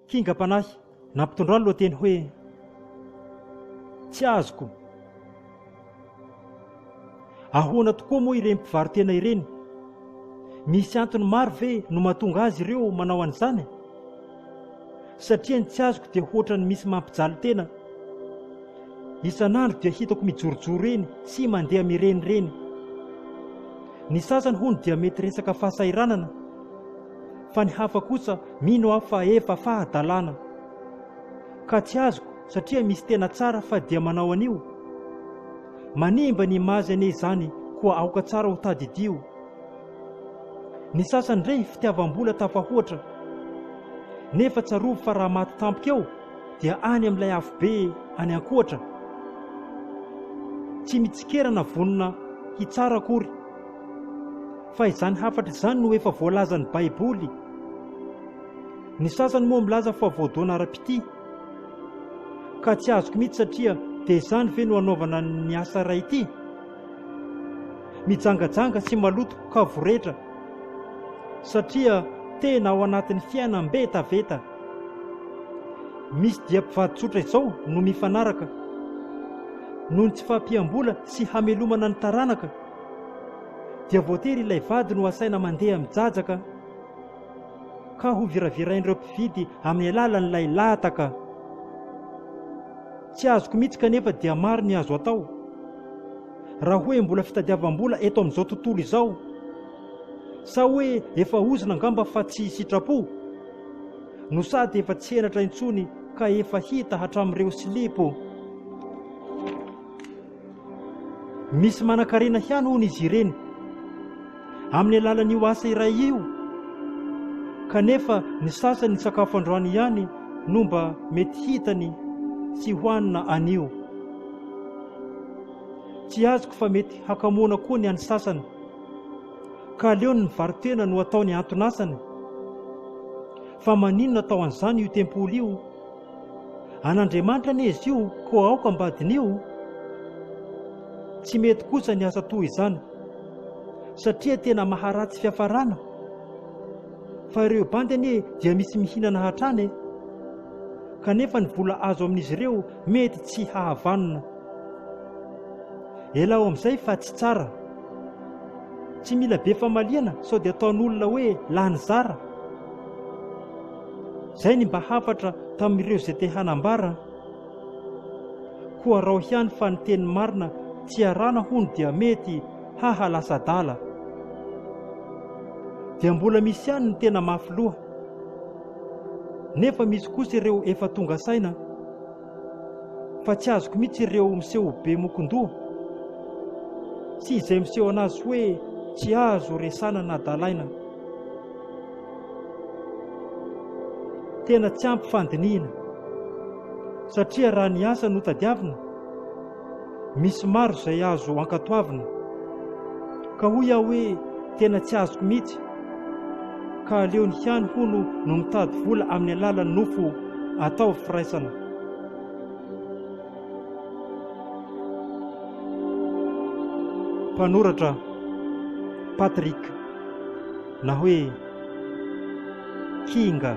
Kingam-panahy nampitondra ny lohateny hoe Tsy azoko. Ahoana tokoa moa ireny mpivaro-tena ireny? Misy antony maro ve no mahatonga azy ireo manao an'izany? Satria ny tsy azoko dia hoatra ny misy mampijaly tena. Isan'andro dia hitako mijorojoro eny sy mandeha mirenireny. Ny sasany hono dia mety resaka fahasahiranana. fa ny hafa kosa mino aho fa efa fahadalana ka tsy azoko satria misy tena tsara fa dia manao an'io? Manimba ny image anie izany koa aoka tsara ho tadidio. Ny sasany re fitiavam-bola tafahoatra nefa tsarovy fa raha maty tampoka eo dia any amin'ilay afobe any ankoatra. Tsy mitsikera na vonona hitsara akory. fa izany hafatra izany no efa voalazan'ny Baiboly. Ny sasany moa milaza fa voadona ara-pitia. Ka tsy azoko mihitsy satria dia izany ve no hanaovana ny asa iray ity? Mijangajanga sy maloto ka voretra satria tena ao anatin'ny fiainam-betaveta. Misy dia mpivady tsotra izao no mifanaraka noho ny tsy fahampiam-bola sy hamelomana ny taranaka. dia voatery ilay vady no asaina mandeha mijajaka ka hoviravirain'ireo mpividy amin'ny alalan'ilay lahataka. Tsy azoko mihitsy kanefa dia maro ny azo atao. Raha hoe mbola fitadiavam-bola eto amin'izao tontolo izao, sa hoe efa ozona angamba fa tsy sitrapo? No sady efa tsy henatra intsony ka efa hita hatramin'ireo silipo. Misy manan-karena ihany hono izy ireny amin'ny alalan'io asa iray io, kanefa ny sasany ny sakafo androany ihany no mba mety hitany tsy hohanina anio. Tsy azoko fa mety hakamoana koa ny an'ny sasany, ka aleony ny varitena no ataony anton'asany. Fa maninona atao an'izany io tempoly io? An'Andriamanitra anie izy io, koa aoka mba diniho. Tsy mety kosa ny asa toa izany, satria tena maharatsy fiafarana. Fa ireo bandy anie dia misy mihinana hatrany e! Kanefa ny vola azo amin'izy ireo mety tsy hahavanona. Elao amin'izay fa tsy tsara. Tsy mila be famaliana sao dia ataon'olona hoe lany zara. Izay ny mba hafatra tamin'ireo izay te hanambara. Koa araho ihany fa ny teny marina tsy arana hono dia mety haha lasa adala. Dia mbola misy ihany ny tena mafy loha. Nefa misy kosa ireo efa tonga saina fa tsy azoko mihitsy ireo miseho ho be mokon-doha sy izay miseho anazy hoe tsy azo resana na dalaina. Tena tsy ampy fandinihina satria raha ny asa no tadiavina, misy maro izay azo ankatoavina ka hoy aho hoe tena tsy azoko mihitsy ka aleony ihany hono no mitady vola amin'ny alalan'ny nofo atao firaisana. Mpanoratra Patrick Na hoe Kinga.